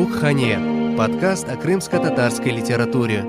Bukhane, podkast o krımsko-tatarskoi literature.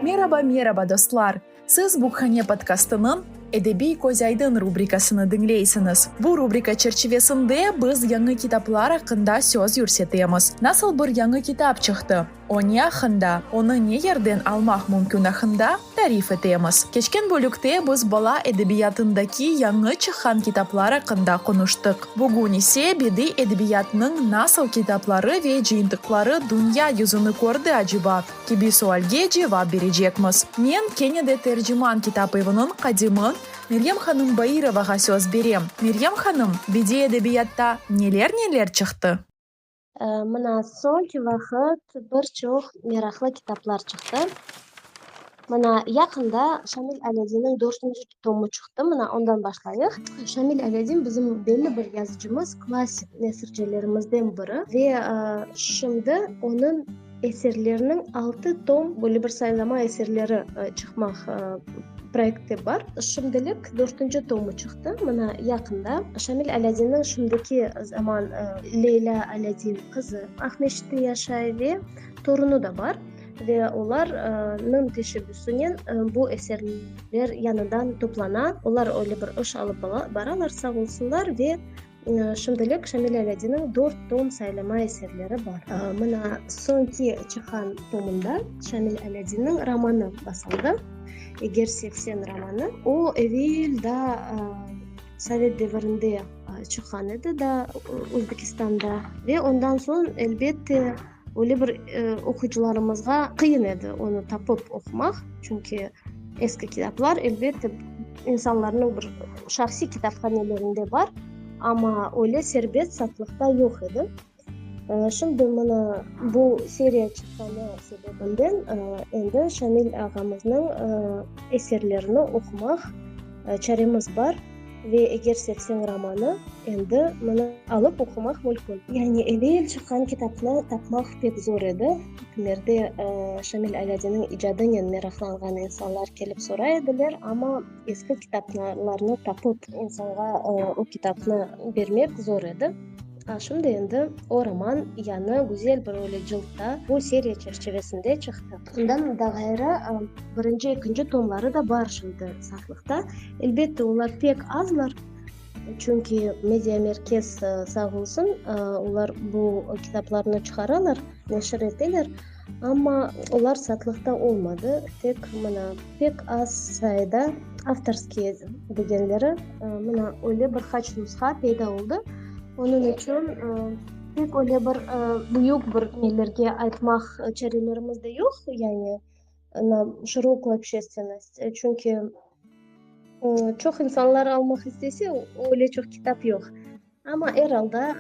Meraba, meraba, dostlar! Siz Bukhane podkastınıñ Edebiy közaydın rubrikasını diñleysiñiz. Bu rubrika çerçivesinde biz yañı kitaplar aqqında söz yürsetemiz. Nasıl bir yañı kitap çıqtı? Onı aqqında, onı ne yerden almaq mümkün aqqında tarif etemiz. Keçken bölükte biz bala edebiyatındaki yañı çıqqan kitaplar aqqında qonuştıq. Bugün ise bediy edebiyatnıñ nasıl kitapları ve cıyıntıqları dünya yüzüni kördi aceba? kibi sualge cevap berecekmiz. Men kene de Terciman kitap eviniñ qadimi Meryem hanım Bairovağa söz berem. Meryem hanım, bediy edebiyatta neler-neler çıqtı? Mına soñki vaqıt bir çoq meraqlı kitaplar çıqtı. Mına yaqında Şamil Alâdinniñ dörtünci tomı çıqtı, mına ondan başlayıq. Şamil Alâdin bizim belli bir yazıcımız, klassik nesircilerimizden biri ve şimdi onıñ. Eserlerniñ altı tom böyle bir saylama eserleri çıqmaq proekti bar. Şimdilik dörtünci tomı çıqtı, mına yaqında. Şamil Alâdinniñ şimdiki zaman Leylâ Alâdin qızı Aqmescitte yaşay ve torunı da bar. Ve olarnıñ teşebbüsinen bu eserler yañıdan toplana. Olar öyle bir iş alıp baralar, sağ olsunlar. Ve Şimdilik Şamil Alâdinniñ dört tom saylama eserleri bar. Mına soñki çıqqan tomında Şamil Alâdinniñ romanı basıldı, Eger sevsen romanı. O, evel daa sovet devirinde çıqqan edi daa Özbekistanda ve ondan soñ, elbette, Öyle bir oquyıcılarımızğa qıyın edi onı tapıp oqumaq, çünki eski kitaplar, elbette, insanlarnıñ bir şahsiy kitaphanelerinde bar, amma öyle serbest satlıqta yoq edi. Şimdi mına bu seriya çıqqanı sebebinden endi Şamil ağamıznıñ eserlerini oqumaq çaremiz bar. Ve eger sevseñ romanı, endi mını alıp oqumaq mülkün. Yani evel çıqqan kitapnı tapmaq pek zor edi. Kimlerde Şamil Alâdinniñ icadınen meraqlanğan insanlar kelip soray ediler, amma eski kitaplarnı tapıp insanğa o kitapnı bermek zor edi. Şimdi endi o roman yañı, güzel bir öyle cıltta, bu seriya çerçivesinde çıqtı. Bundan da ğayrı, birinci, ekinci tomları da bar şimdi satlıqta. Elbette, olar pek azlar, çünki Media Merkez sağ olsun, olar bu kitaplarnı çıqaralar, neşir eteler. Amma olar satlıqta olmadı, tek mına pek az sayıda avtorskiye degenleri, mına öyle bir qaç nusha peyda oldı. Onıñ içün pek öyle bir büyük bir nelerge aytmaq çarelerimiz de yoq, yani na şirokıy obşestvennost, çünki çoq insanlar almaq istese, öyle çoq kitap yoq. Amma er alda,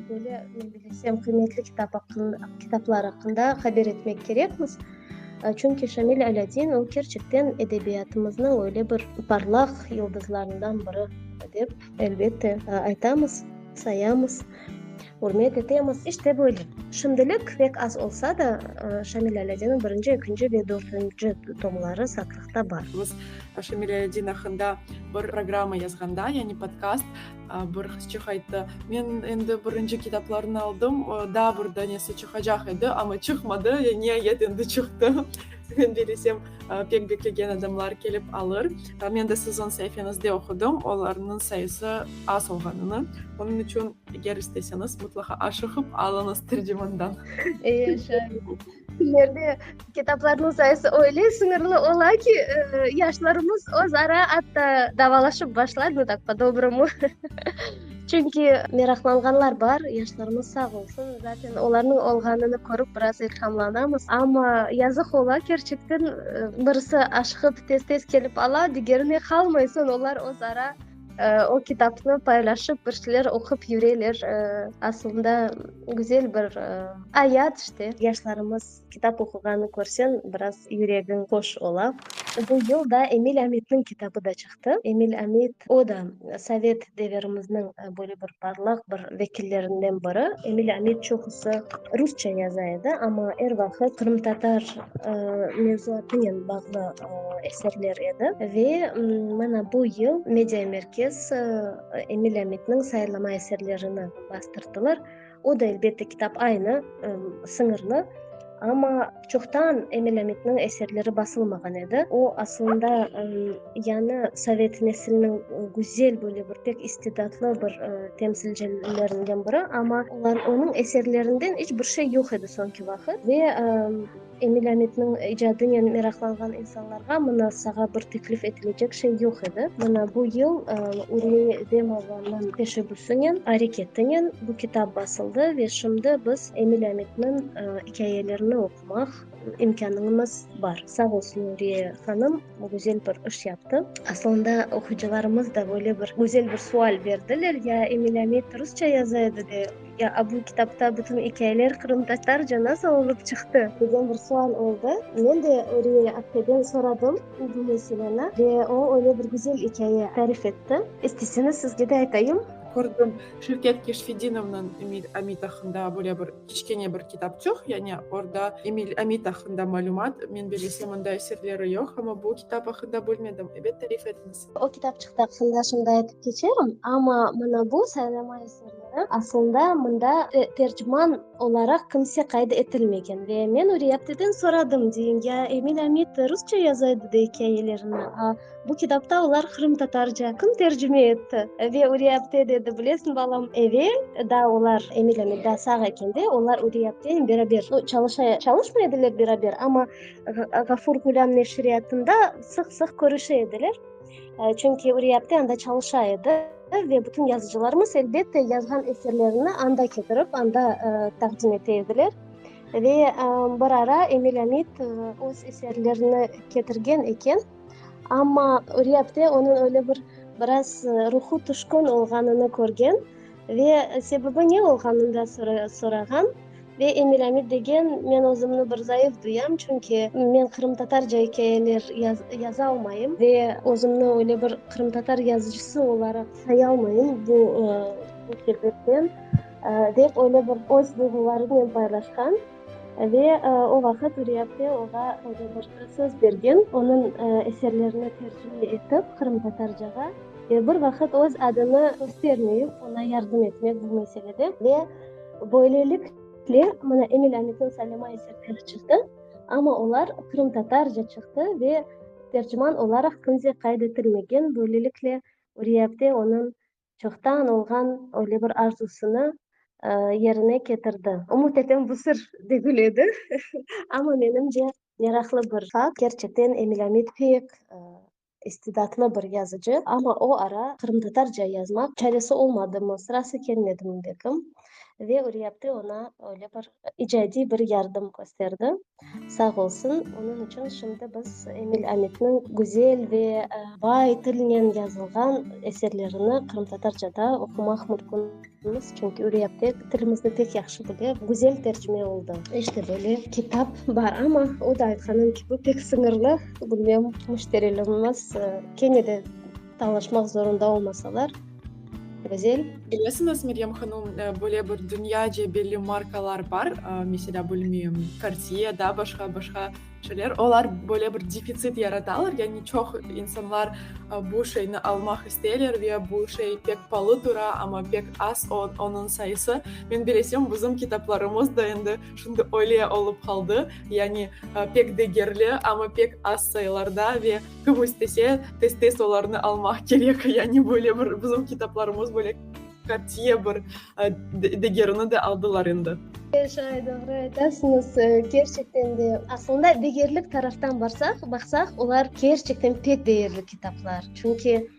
böyle, men bilesem, qıymetli kitap aqqında, kitaplar aqqında haber etmek kerekmiz. Çünki Şamil Alâdin, o, kerçekten edebiyatımıznıñ öyle bir parlaq yıldızlarından biri, dep, elbette, aytamız, sayamız, ürmet etemiz. İşte böyle. Şimdilik pek az olsa da, Şamil Alâdinniñ birinci, ekinci ve dörtünci tomları satlıqta bar. Biz Şamil Alâdin aqqında bir programma yazğanda, yani podkast, Bir qızçıq ayttı, men endi birinci kitaplarnı aldım, daa bir danesi çıqacaq edi, amma çıqmadı, niayet endi çıqtı. Men bilesem, pek beklegen adamlar kelip alır. Men de sizin saifeñizde oqudım, olarnıñ sayısı az olğanını. Onıñ içün eger isteseñiz, mutlaqa aşıqıp alıñız tercimandan. Kültürlerde kitaplarnıñ sayısı öyle sıñırlı ola ki, yaşlarımız özara atta davalaşıp başlay, no tak, po-dobromu. Çünki meraqlanğanlar bar, yaşlarımız sağ olsun, zaten olarnıñ olğanını körip biraz ilhamlanamız. Amma yazıq ola, kerçekten, birisi aşqıp tez-tez kelip ala, digerine qalmay, soñ olar özara. O kitapnı paylaşıp, bir şeyler oqup yüreler. Asılında güzel bir ayat işte. Yaşlarımız kitap oquğanı körseñ, biraz yüregiñ hoş ola. Bu yıl da Emil Amitniñ kitabı da çıqtı. Emil Amit, o da sovet devirimizniñ böyle bir parlaq bir vekillerinden biri. Emil Amit çoqusı rusça yaza edi, amma er vaqıt qırımtatar mevzuatınen bağlı. eserler edi ve mana bu yıl Media Merkez Emil Amitniñ sayırlama eserlerini bastırdılar. O da, elbette, kitap aynı, sıñırlı, amma çoqtan Emil Amitniñ eserleri basılmağan edi. O, aslında, yañı sovet nesiliniñ güzel, böyle bir pek istidatlı bir temsilcilerinden biri, amma onıñ eserlerinden iç bir şey yoq edi soñki vaqıt ve Emil Amitniñ icadınen meraqlanğan insanlarğa mına sağa bir teklif etilecek şey yoq edi. Mına bu yıl Ürmiye İdemovanıñ teşebbüsinen, areketinen bu kitab basıldı ve şimdi biz Emil Amitniñ ikâyelerini oqumaq imkânıñımız bar. Sağ olsun Ürmiye hanım, güzel bir iş yaptı. Aslında oquyıcılarımız da böyle bir güzel bir sual berdiler, ya Emil Amit rusça yaza edi de, Ya bu kitapta bütün ikâyeler qırımtatarca nasıl olıp çıqtı? Degen bir sual oldı. Men de Öriye apteden soradım bu meseleni ve o öyle bir güzel ikâye tarif etti. İsteseñiz sizge de aytayım. Kördim, Şevket Keşfedinovnıñ Emil Amit aqqında böyle bir kiçkene bir kitapçıq, yani orda Emil Amit aqqında malümat. Men bilesem, onda eserleri yoq, amma bu kitap aqqında bilmedim. Ebet, tarif etiñiz. O kitapçıqta aqqında şunday aytıp keçerim, amma mana bu saylama eserleri aslında mında terciman olaraq kimse qayd etilmegen. Ve men Üriyapteden soradım, deyim, ya Emil Amit rusça yaza edi de ikâyelerini, a bu kitapta olar qırımtatarca. Kim tercime etti? Ve Üriyapte dedi, bilesiñ, balam, evel daa olar, Emil Amit daa sağ eken de, olar Üriyapte beraber, no çalışa, çalışmay ediler beraber, amma, Ğafur Ğulâm neşriyatında sıq-sıq körüşe ediler, çünki Üriyapte anda çalışa edi ve bütün yazıcılarımız, elbette, yazğan eserlerini anda ketirip, anda taqdim ete ediler. Ve bir ara Emil Amit öz eserlerini ketirgen eken, amma Üriyapte onıñ öyle bir biraz ruhu tüşkün olğanını körgen, Ve sebebi ne olğanını da sorağan. Ve Emil Amid degen, men özümni bir zayıf duyam, çünki men qırımtatarca ikâyeler yazalmayım ve özümni öyle bir qırımtatar yazıcısı olaraq sayalmayım bu sebepten, dep öyle bir öz duyğularınen paylaşqan. Ve o vaqıt Üriyapte oğa Rodobortqa söz bergen, onıñ eserlerini tercüme etip qırımtatarcağa ve bir vaqıt öz adını köstermeyip oña yardım etmek bu meselede. Ve böylelikle, mına, Emil Amitniñ Salima eserleri çıqtı, amma olar qırımtatarca çıqtı ve tercüman olaraq kimse qayd etilmegen, böylelikle, Üriyapte onıñ Çoqtan olğan öyle bir arzusını yerine ketirdi. Umut etem bu sır degil edi, amma menimce meraqlı bir fakt. Kerçekten Emil Amit pek istidatlı bir yazıcı, amma o ara qırımtatarca yazmaq çaresi olmadımı, sırası kelmedimi belkim, ve Üriyabdi oña öyle bir icadiy bir yardım kösterdi. Sağ olsun, onıñ içün şimdi biz Emil Amitniñ güzel ve bay tilnen yazılğan eserlerini qırımtatarcada oqumaq mümkünmiz, çünki Üriyabdi tilimizni pek yahşı bile, güzel tercime oldı. İşte böyle kitap bar, amma o da aytqanıñ kibi pek sıñırlı, bilmem, müşterilerimiz kene de, Tañlaşmaq zorunda olmasalar, Gözel. Bilesiñiz, Meryem hanum, böyle bir dünyaca belli markalar bar, meselâ, bilmeyim, Cartier, daa başqa-başqa şeyler. Olar böyle bir defitsit yaratalar, yani çoq insanlar bu şeyni almaq isteyler ve bu şey pek palı tura, amma pek az onıñ sayısı. Men bilesem, bizim kitaplarımız da endi şimdi öyle olıp qaldı, yani pek degerli, amma pek az sayılarda ve, Kim istese, tez-tez olarnı almaq kerek, yani böyle bir bizim kitaplarımız böyle qatiye bir degerini de aldılar endi. Şay, doğru aytasıñız, kerçekten de. Aslında degerlik taraftan barsaq, baqsaq, olar kerçekten pek degerli kitaplar. Çünki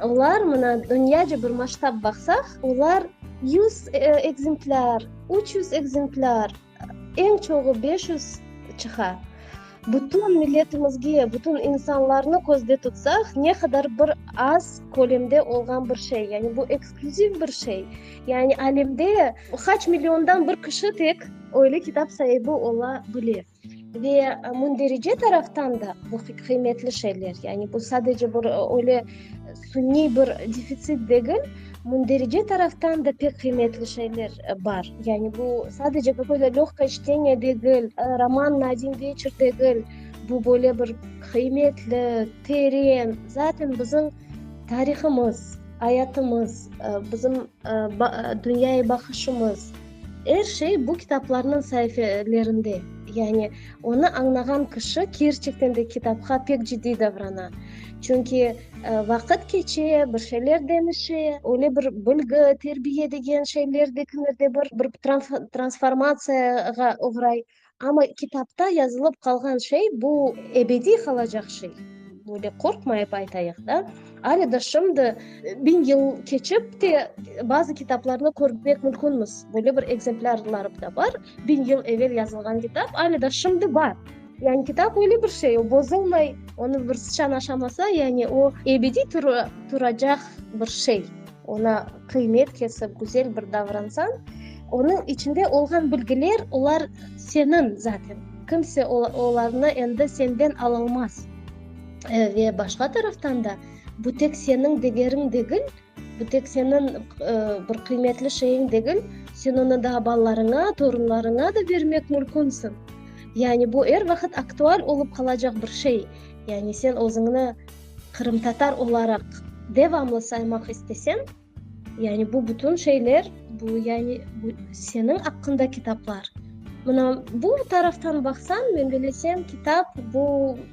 olar, mına, dünyaca bir masştab baqsaq, olar yüz ekzemplâr, üç yüz ekzemplâr. Eñ çoğu beş yüz çıqa. Bütün milletimizge, bütün insanlarnı közde tutsaq, ne qadar bir az kölemde olğan bir şey. Yani bu eksklyuziv bir şey. Yani alemde qaç milliondan bir kişi tek öyle kitap saibi ola bile. Ve münderici taraftan da bu qıymetli şeyler. Yani bu sadece bir öyle, Suniy bir defitsit degil, münderece taraftan da pek qıymetli şeyler bar. Yani bu sadece qaqoy da lâgka çteniya degil, roman na odin veçer degil, bu böyle bir qıymetli, teren, zaten bizim tarihımız, ayatımız, bizim dünyaya baqışımız, er şey bu kitaplarnıñ saifelerinde. Yani onı añlağan kişi kerçekten de kitapqa pek ciddiy davrana. Çünki. Vaqıt keçe, bir şeyler deñişe, öyle bir bilgi, terbiye degen şeyler de kimlerde bir bir transformatsiyağa oğray. Amma kitapta yazılıp qalğan şey, bu ebediy qalacaq şey. Böyle qorqmayıp aytayıq da. Alee da şimdi, biñ yıl keçip te, bazı kitaplarnı körmek mümkünmiz. Böyle bir ekzemplarlar da bar, biñ yıl evel yazılğan kitap, alee da şimdi bar. Yani kitap öyle bir şey, o bozulmay, onı bir sıçan aşamasa, yani o ebediy turacaq bir şey. Ona qıymet kesip, güzel bir davransañ, onıñ içinde olğan bilgiler, olar seniñ zaten. Kimse olarnı endi senden alolmaz. Ve başqa taraftan da, bu tek seniñ degeriñ degil, Bu tek seniñ bir qıymetli şeyiñ degil, sen onı daa balalarıña, torunlarıña da bermek mülkünsiñ. Yani bu er vaqıt aktual olıp qalacaq bir şey. Yani sen özüñni qırımtatar olaraq devamlı saymaq isteseñ, yani bu bütün şeyler, bu yani bu seniñ aqqında kitaplar. Mına bu taraftan baqsañ, men bilesem, kitap bu,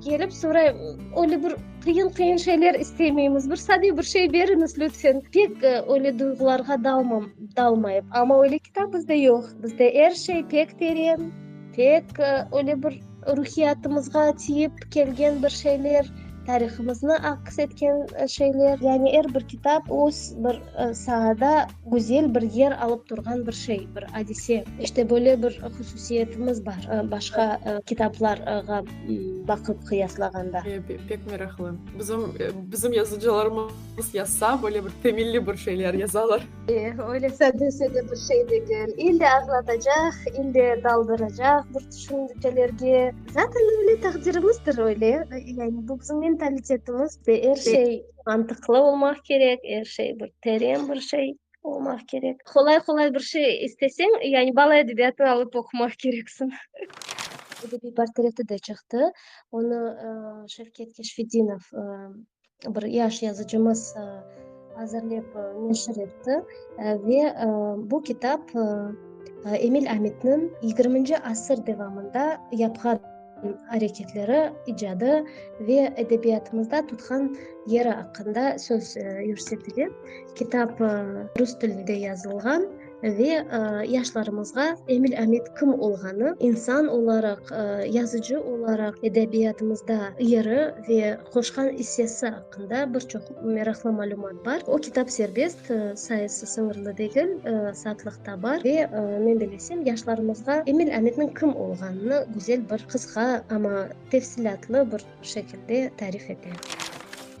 Kelip sorayım, öyle bir qıyın qıyın şeyler istemeymiz, bir sade bir şey beriñiz lütfen. Pek öyle duyğularğa dalmayıp. Amma öyle kitap bizde yoq. Bizde er şey pek teren, pek öyle bir ruhiyatımızğa tiyip kelgen bir şeyler, tarihımıznı aks etken şeyler. Yani er bir kitap öz bir sahada. Güzel bir yer alıp turğan bir şey, bir adise. İşte böyle bir hususiyetimiz bar, başqa kitaplarğa baqıp qıyaslağanda. Pek meraqlı. Bizim, bizim yazıcılarımız yazsa, böyle bir temelli bir şeyler yazalar. Öyle sade-sade bir şey degil. İlle ağlatacaq, ille daldıracaq bir tüşüncelerge. Zaten öyle taqdirimizdir, öyle. Yani bu bizim mentalitetimiz. Er şey. Mantıqlı olmaq kerek, er şey bir teren bir şey olmaq kerek. Qolay-qolay bir şey isteseñ, yani bala edebiyatını alıp oqumaq kereksiñ. Edebiy portreti de çıqtı. Onı Şevket Keşfetdinov, bir yaş yazıcımız azırlep neşir etti. Ve bu kitap Emil Amitniñ yigirminci asır devamında yapqan. areketleri, icadı ve edebiyatımızda tutqan yeri aqqında söz yürsetile. Kitap rus tilinde yazılğan ve yaşlarımızğa Emil Amit kim olğanı, insan olaraq, yazıcı olaraq edebiyatımızda yeri ve qoşqan issesi. aqqında bir çoq meraqlı malümat bar. O kitap serbest, sayısı sıñırlı degil, satlıqta bar. Ve men bilesem, yaşlarımızğa Emil Amitniñ kim olğanını güzel bir qısqa, amma tefsilâtlı bir şekilde tarif ete.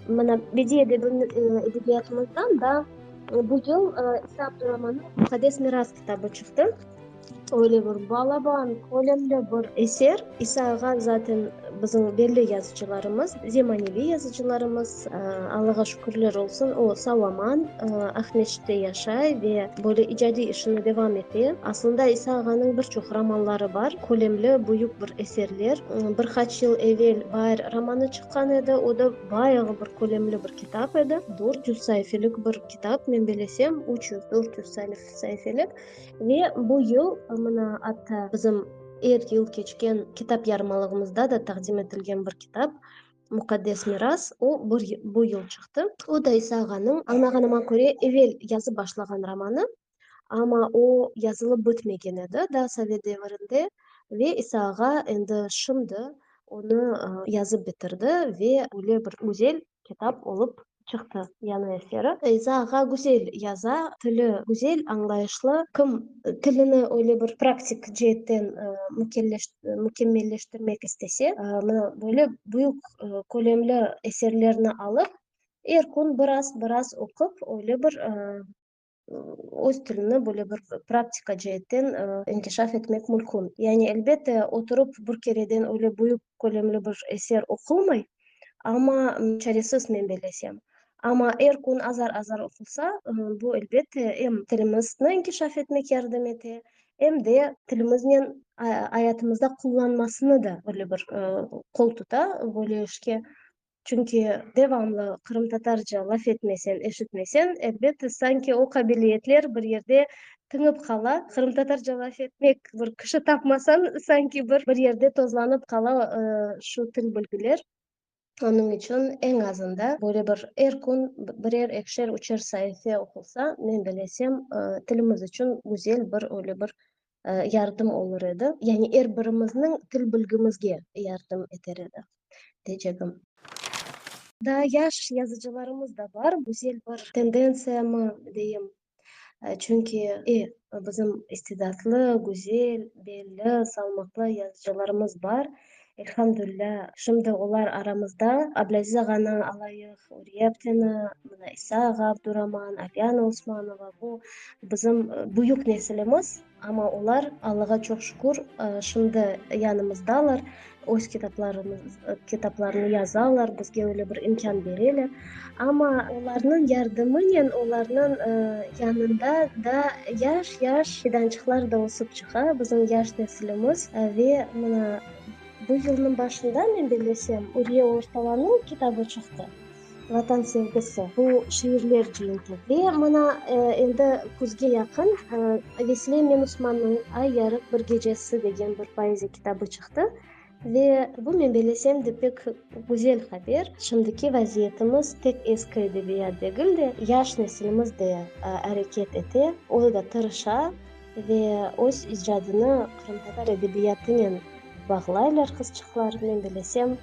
Mana, bediiy edebiyatımızdan da bu yıl İsa Abduraman'nıñ Muqaddes miras kitabı çıqtı. Öyle bir balaban, kölemli bir eser. İsa ağa zaten bizim belli yazıcılarımız, zemaneviy yazıcılarımız. Allağa şükürler olsun, o sağ-aman Aqmescitte yaşay ve böyle icadiy işini devam ete. Aslında İsa ağanıñ bir çoq romanları bar, kölemli, büyük bir eserler. Bir qaç yıl evel Bair romanı çıqqan edi, o da bayağı bir kölemli bir kitap edi. Dört yüz saifelik bir kitap, men belesem, üç yüz, dört yüz saifelik. Ve bu yıl, mına, atta bizim er yıl keçken kitap yarımalığımızda da taqdim etilgen bir kitap, Muqaddes miras, o, bir yıl, bu yıl çıqtı. O da İsa ağanıñ, añlağanıma köre, evel yazıp başlağan romanı, amma o, yazılıp bitmegen edi daa sovet devirinde. Ve İsa ağa endi şimdi onı yazıp bitirdi ve öyle bir güzel kitap olıp çıqtı. Yañı eseri. Feyza ağa güzel yaza, tili güzel, añlayışlı. Kim tilini öyle bir praktik ceetten mükemmelleştirmek istese, mına böyle büyük kölemli eserlerni alıp, er kün biraz-biraz oqup, öyle bir öz tilini böyle bir praktika ceetten inkişaf etmek mülkün. Yani elbette, oturıp bir kereden öyle büyük kölemli bir eser oqulmay, amma çaresiz, men bellesem. Amma er kün azar-azar oqulsa, bu, elbette, em tilimizni inkişaf etmek yardım ete, em de tilimiznen ayatımızda qullanmasını da böyle bir qol tuta, böyle işke Çünki devamlı qırımtatarca laf etmesen, eşitmesen, elbette, sanki o qabiliyetler bir yerde tıñıp qala. Qırımtatarca laf etmek bir kişi tapmasañ, sanki bir bir yerde tozlanıp qala şu til bilgiler. Onıñ içün eñ azında böyle bir er kün birer, ekişer, üçer saife oqulsa, men bilesem, tilimiz içün güzel bir öyle bir yardım olur edi, yani er birimizniñ til bilgimizge yardım eter edi, deycegim. Daa yaş yazıcılarımız da bar, güzel bir tendentsiyamı deyim, çünki e, bizim istidatlı, güzel, belli, salmaqlı yazıcılarımız bar, Elhamdülilâ, şimdi olar aramızda, Ablaziz ağanı alayıq, Uriye apteni, mına İsa ağa Abduraman, Afiana Osmanova, bu bizim büyük nesilimiz, amma olar, Allağa çoq şükür, şimdi yanımızdalar, öz kitaplarını yazalar, bizge öyle bir imkân bereler. Amma olarnıñ yardımınen olarnıñ yanında daa yaş-yaş fidançıqlar da ösüp çıqa, bizim yaş nesilimiz. Ve mına bu yılnıñ başında, men bellesem, Ürge ortalanıv kitabı çıqtı, Vatan sevgisi, bu şiirler cenkli. Ve mına endi küzge yaqın Vesile Menusmannıñ Ay yarıq bir gecesi degen bir poeziya kitabı çıqtı. Ve bu, men belesem de, pek güzel haber. Şimdiki vaziyetimiz tek eski edebiyat degil de, yaş nesilimiz de areket ete, o da tırışa ve öz icadını qırımtatar edebiyatınen bağlaylar qızçıqlar. Men belesem,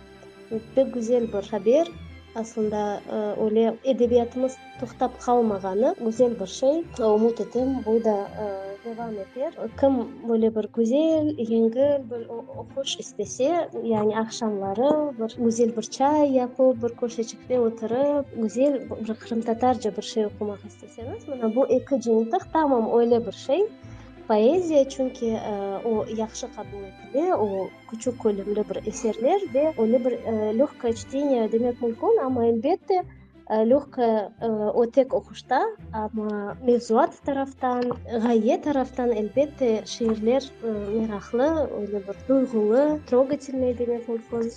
pek güzel bir haber. Aslında öyle edebiyatımız Toqtap qalmağanı güzel bir şey. Ümüt etem, bu da devam eter. Kim böyle bir güzel, yengil, bir oquş istese, yani aqşamları bir güzel bir çay yapıp, bir köşeçikte oturıp, güzel bir qırımtatarca bir şey oqumaq isteseñiz, mına bu eki cıyıntıq tamam öyle bir şey. Poeziya, çünki o yahşı qabul etile, o küçük kölümli bir eserler ve öyle bir lögkoye çteniye demek mümkün, amma elbette, Lehqa ötek oquşta, amma mevzuat taraftan, ğaye taraftan, elbette, şiirler meraqlı, öyle bir duyğulı, trogatelnıy demek mümkün.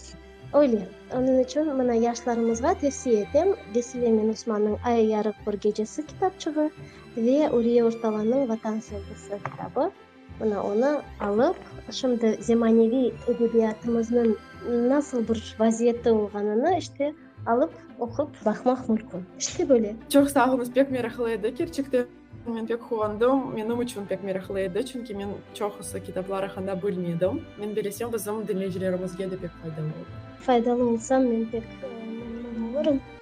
Öyle, onıñ içün mına yaşlarımızğa tevsiye etem Vesile Minusmanıñ Ay yarıq bir gecesi kitapçığı ve Uriye Ortalanıñ Vatan sevgisi kitabı. Mına onı alıp, şimdi zemaneviy edebiyatımıznıñ nasıl bir vaziyette olğanını işte alıp oqup baqmaq mülkün. İşte böyle. Çoq sağ olunız, pek meraqlı edi. Kerçekten men pek quvandım. Menim içün pek meraqlı edi, çünki men çoqusı kitaplar aqqında bilmedim. Men belesem, bizim diñleyicilerimizge de pek faydalı olur. Faydalı olsam, men pek memnun olurım.